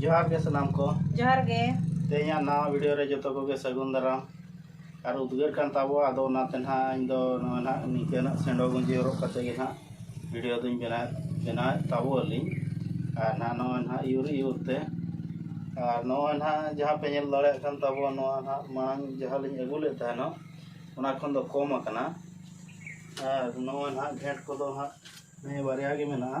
ᱡᱚᱦᱟᱨ ᱜᱮ ᱥᱟᱱᱟᱢ ᱠᱚ ᱡᱚᱦᱟᱨ ᱜᱮ ᱛᱮᱦᱮᱧᱟᱜ ᱱᱟᱣᱟ ᱵᱷᱤᱰᱤᱭᱳ ᱨᱮ ᱡᱚᱛᱚ ᱠᱚᱜᱮ ᱥᱟᱹᱜᱩᱱ ᱫᱟᱨᱟᱢ ᱟᱨ ᱩᱫᱽᱜᱟᱹᱨ ᱠᱟᱱ ᱛᱟᱵᱚᱣᱟ ᱟᱫᱚ ᱚᱱᱟᱛᱮ ᱱᱟᱦᱟᱜ ᱤᱧ ᱫᱚ ᱱᱚᱣᱟ ᱱᱟᱦᱟᱜ ᱱᱤᱝᱠᱟᱹ ᱱᱟᱜ ᱥᱮᱸᱰᱚ ᱜᱩᱸᱡᱤ ᱦᱚᱨᱚᱜ ᱠᱟᱛᱮ ᱜᱮ ᱱᱟᱦᱟᱜ ᱵᱷᱤᱰᱤᱭᱳ ᱫᱚᱧ ᱵᱮᱱᱟᱣᱮᱫ ᱵᱮᱱᱟᱣᱮᱫ ᱛᱟᱵᱚ ᱟᱹᱞᱤᱧ ᱟᱨ ᱱᱟᱦᱟᱜ ᱱᱚᱜᱼᱚᱭ ᱱᱟᱦᱟᱜ ᱤᱭᱩᱨ ᱤᱭᱩᱨ ᱛᱮ ᱟᱨ ᱱᱚᱜᱼᱚᱭ ᱱᱟᱦᱟᱜ ᱡᱟᱦᱟᱸ ᱯᱮ ᱧᱮᱞ ᱫᱟᱲᱮᱭᱟᱜ ᱠᱟᱱ ᱛᱟᱵᱚᱣᱟ ᱱᱚᱣᱟ ᱱᱟᱦᱟᱜ ᱢᱟᱲᱟᱝ ᱡᱟᱦᱟᱸ ᱞᱤᱧ ᱟᱹᱜᱩ ᱞᱮᱫ ᱛᱟᱦᱮᱱᱚᱜ ᱚᱱᱟ ᱠᱷᱚᱱ ᱫᱚ ᱠᱚᱢ ᱟᱠᱟᱱᱟ ᱟᱨ ᱱᱚᱜᱼᱚᱭ ᱱᱟᱦᱟᱜ ᱜᱷᱮᱸᱴ ᱠᱚᱫᱚ ᱱᱟᱦᱟᱜ ᱱᱤᱭᱟᱹ ᱵᱟᱨᱭᱟ ᱜᱮ ᱢᱮᱱᱟᱜᱼᱟ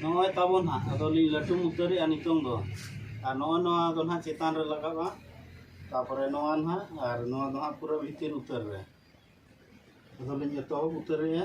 ᱱᱚᱜᱼᱚᱭ ᱛᱟᱵᱚᱱ ᱦᱟᱸᱜ ᱟᱫᱚ ᱞᱤᱧ ᱞᱟᱹᱴᱩ ᱢᱩᱛᱟᱹᱨᱮᱜᱼᱟ ᱱᱤᱛᱚᱝ ᱫᱚ ᱟᱨ ᱱᱚᱜᱼᱚᱭ ᱱᱚᱣᱟ ᱫᱚ ᱱᱟᱦᱟᱜ ᱪᱮᱛᱟᱱ ᱨᱮ ᱞᱟᱜᱟᱜᱼᱟ ᱛᱟᱯᱚᱨᱮ ᱱᱚᱣᱟ ᱱᱟᱦᱟᱜ ᱟᱨ ᱱᱚᱣᱟ ᱫᱚ ᱦᱟᱸᱜ ᱯᱩᱨᱟᱹ ᱵᱷᱤᱛᱤᱨ ᱩᱛᱟᱹᱨ ᱨᱮ ᱟᱫᱚ ᱞᱤᱧ ᱮᱛᱚᱦᱚᱵ ᱩᱛᱟᱹᱨᱮᱜᱼᱟ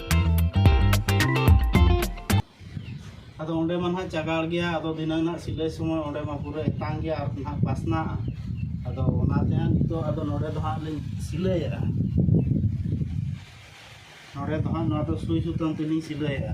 ᱟᱫᱚ ᱚᱸᱰᱮ ᱢᱟ ᱱᱟᱦᱟᱜ ᱪᱟᱜᱟᱲ ᱜᱮᱭᱟ ᱟᱫᱚ ᱫᱷᱤᱱᱟᱹᱝ ᱱᱟᱦᱟᱜ ᱥᱤᱞᱟᱹᱭ ᱥᱚᱢᱚᱭ ᱚᱸᱰᱮ ᱢᱟ ᱯᱩᱨᱟᱹ ᱮᱛᱟᱝ ᱜᱮᱭᱟ ᱟᱨ ᱱᱟᱦᱟᱜ ᱯᱟᱥᱱᱟᱜᱼᱟ ᱟᱫᱚ ᱚᱱᱟᱛᱮ ᱦᱟᱸᱜ ᱱᱤᱛᱚᱜ ᱟᱫᱚ ᱱᱚᱰᱮ ᱫᱚ ᱦᱟᱸᱜ ᱞᱤᱧ ᱥᱤᱞᱟᱹᱭᱮᱫᱼᱟ ᱱᱚᱰᱮ ᱫᱚ ᱦᱟᱸᱜ ᱱᱚᱣᱟ ᱫᱚ ᱥᱩᱭ ᱥᱩᱛᱟᱹᱢ ᱛᱮᱞᱤᱧ ᱥᱤᱞᱟᱹᱭᱮᱫᱼᱟ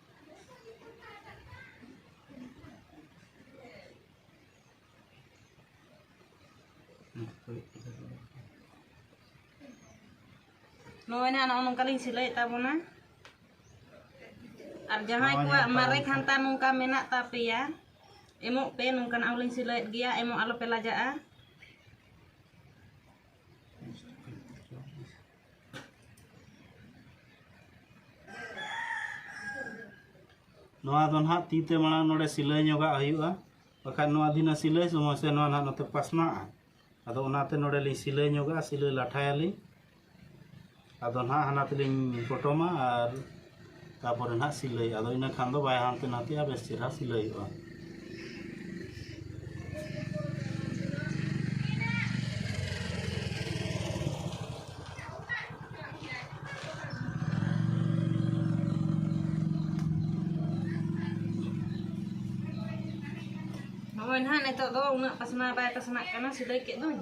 ᱱᱚᱜᱼᱚᱭ ᱱᱟᱦᱟᱜ ᱱᱚᱜᱼᱚ ᱱᱚᱝᱠᱟ ᱞᱤᱧ ᱥᱤᱞᱟᱹᱭᱮᱫ ᱛᱟᱵᱚᱱᱟ ᱟᱨ ᱡᱟᱦᱟᱸᱭ ᱠᱚᱣᱟᱜ ᱢᱟᱨᱮ ᱠᱷᱟᱱᱛᱟ ᱱᱚᱝᱠᱟ ᱢᱮᱱᱟᱜ ᱛᱟᱯᱮᱭᱟ ᱮᱢᱚᱜ ᱯᱮ ᱱᱚᱝᱠᱟᱱᱟᱜ ᱦᱚᱸᱞᱤᱧ ᱥᱤᱞᱟᱹᱭᱮᱫ ᱜᱮᱭᱟ ᱮᱢᱚᱜ ᱟᱞᱚᱯᱮ ᱞᱟᱡᱟᱜᱼᱟ ᱱᱚᱣᱟ ᱫᱚ ᱱᱟᱦᱟᱜ ᱛᱤ ᱛᱮ ᱢᱟᱲᱟᱝ ᱱᱚᱰᱮ ᱥᱤᱞᱟᱹᱭ ᱧᱚᱜᱟᱜ ᱦᱩᱭᱩᱜᱼᱟ ᱵᱟᱠᱷᱟᱱ ᱱᱚᱣᱟ ᱫᱷᱤᱱᱟᱹ ᱥᱤᱞᱟᱹᱭ ᱥᱚᱢᱚᱭ ᱥᱮ ᱱᱚᱣᱟ ᱱᱟᱦᱟᱜ ᱱᱚᱛᱮ ᱯᱟᱥᱱᱟᱜᱼᱟ ᱟᱫᱚ ᱚᱱᱟᱛᱮ ᱱᱚᱰᱮ ᱞᱤᱧ ᱥᱤᱞᱟᱹᱭ ᱧᱚᱜᱟᱜᱼᱟ ᱥᱤᱞᱟᱹᱭ ᱞᱟᱴᱷᱟᱭᱟᱞᱤᱧ ᱟᱫᱚ ᱱᱟᱦᱟᱜ ᱦᱟᱱᱟ ᱛᱮᱞᱤᱧ ᱯᱚᱴᱚᱢᱟ ᱟᱨ ᱛᱟᱯᱚᱨᱮ ᱱᱟᱦᱟᱜ ᱥᱤᱞᱟᱹᱭ ᱟᱫᱚ ᱤᱱᱟᱹ ᱠᱷᱟᱱ ᱫᱚ ᱵᱟᱭ ᱦᱟᱱᱛᱮ ᱱᱟᱛᱮᱜᱼᱟ ᱵᱮᱥ ᱪᱮᱨᱦᱟ ᱥᱤᱞᱟᱹᱭᱚᱜᱼᱟ ᱱᱚᱜᱼᱚᱭ ᱱᱟᱦᱟᱜ ᱱᱤᱛᱚᱜ ᱫᱚ ᱩᱱᱟᱹᱜ ᱯᱟᱥᱱᱟᱣ ᱵᱟᱭ ᱯᱟᱥᱱᱟᱜ ᱠᱟᱱᱟ ᱥᱤᱞᱟᱹᱭ ᱠᱮᱫ ᱫᱚᱧ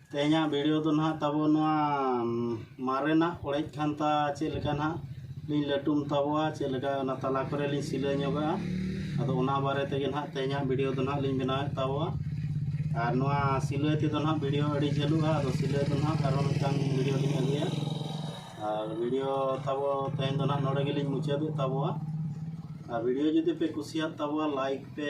ᱛᱮᱦᱮᱧᱟᱜ ᱵᱷᱤᱰᱤᱭᱳ ᱫᱚ ᱱᱟᱦᱟᱜ ᱛᱟᱵᱚ ᱱᱚᱣᱟ ᱢᱟᱨᱮᱱᱟᱜ ᱚᱲᱮᱡ ᱠᱷᱟᱱᱛᱟ ᱪᱮᱫ ᱞᱮᱠᱟ ᱱᱟᱦᱟᱜ ᱞᱤᱧ ᱞᱟᱹᱴᱩᱢ ᱛᱟᱵᱚᱣᱟ ᱪᱮᱫ ᱞᱮᱠᱟ ᱚᱱᱟ ᱛᱟᱞᱟ ᱠᱚᱨᱮ ᱞᱤᱧ ᱥᱤᱞᱟᱹ ᱧᱚᱜᱟ ᱟᱫᱚ ᱚᱱᱟ ᱵᱟᱨᱮ ᱛᱮᱜᱮ ᱱᱟᱦᱟᱜ ᱛᱮᱦᱮᱧᱟᱜ ᱵᱷᱤᱰᱤᱭᱳ ᱫᱚ ᱱᱟᱦᱟᱜ ᱞᱤᱧ ᱵᱮᱱᱟᱣᱮᱫ ᱛᱟᱵᱚᱣᱟ ᱟᱨ ᱱᱚᱣᱟ ᱥᱤᱞᱟᱹᱭ ᱛᱮᱫᱚ ᱱᱟᱦᱟᱜ ᱵᱷᱤᱰᱤᱭᱳ ᱟᱹᱰᱤ ᱡᱷᱟᱹᱞᱩᱜᱼᱟ ᱟᱫᱚ ᱥᱤᱞᱟᱹᱭ ᱫᱚ ᱱᱟᱦᱟᱜ ᱟᱨᱦᱚᱸ ᱢᱤᱫᱴᱟᱝ ᱵᱷᱤᱰᱤᱭᱳ ᱞᱤᱧ ᱟᱹᱜᱩᱭᱟ ᱟᱨ ᱵᱷᱤᱰᱤᱭᱳ ᱛᱟᱵᱚ ᱛᱮᱦᱮᱧ ᱫᱚ ᱱᱟᱦᱟᱜ ᱱᱚᱰᱮ ᱜᱮᱞᱤᱧ ᱢᱩᱪᱟᱹᱫᱮᱫ ᱛᱟᱵᱚᱣᱟ ᱟᱨ ᱵᱷᱤᱰᱤᱭᱳ ᱡᱩᱫᱤ ᱯᱮ ᱠᱩᱥᱤᱭᱟᱜ ᱛᱟᱵᱚᱣᱟ ᱞᱟᱭᱤᱠ ᱯᱮ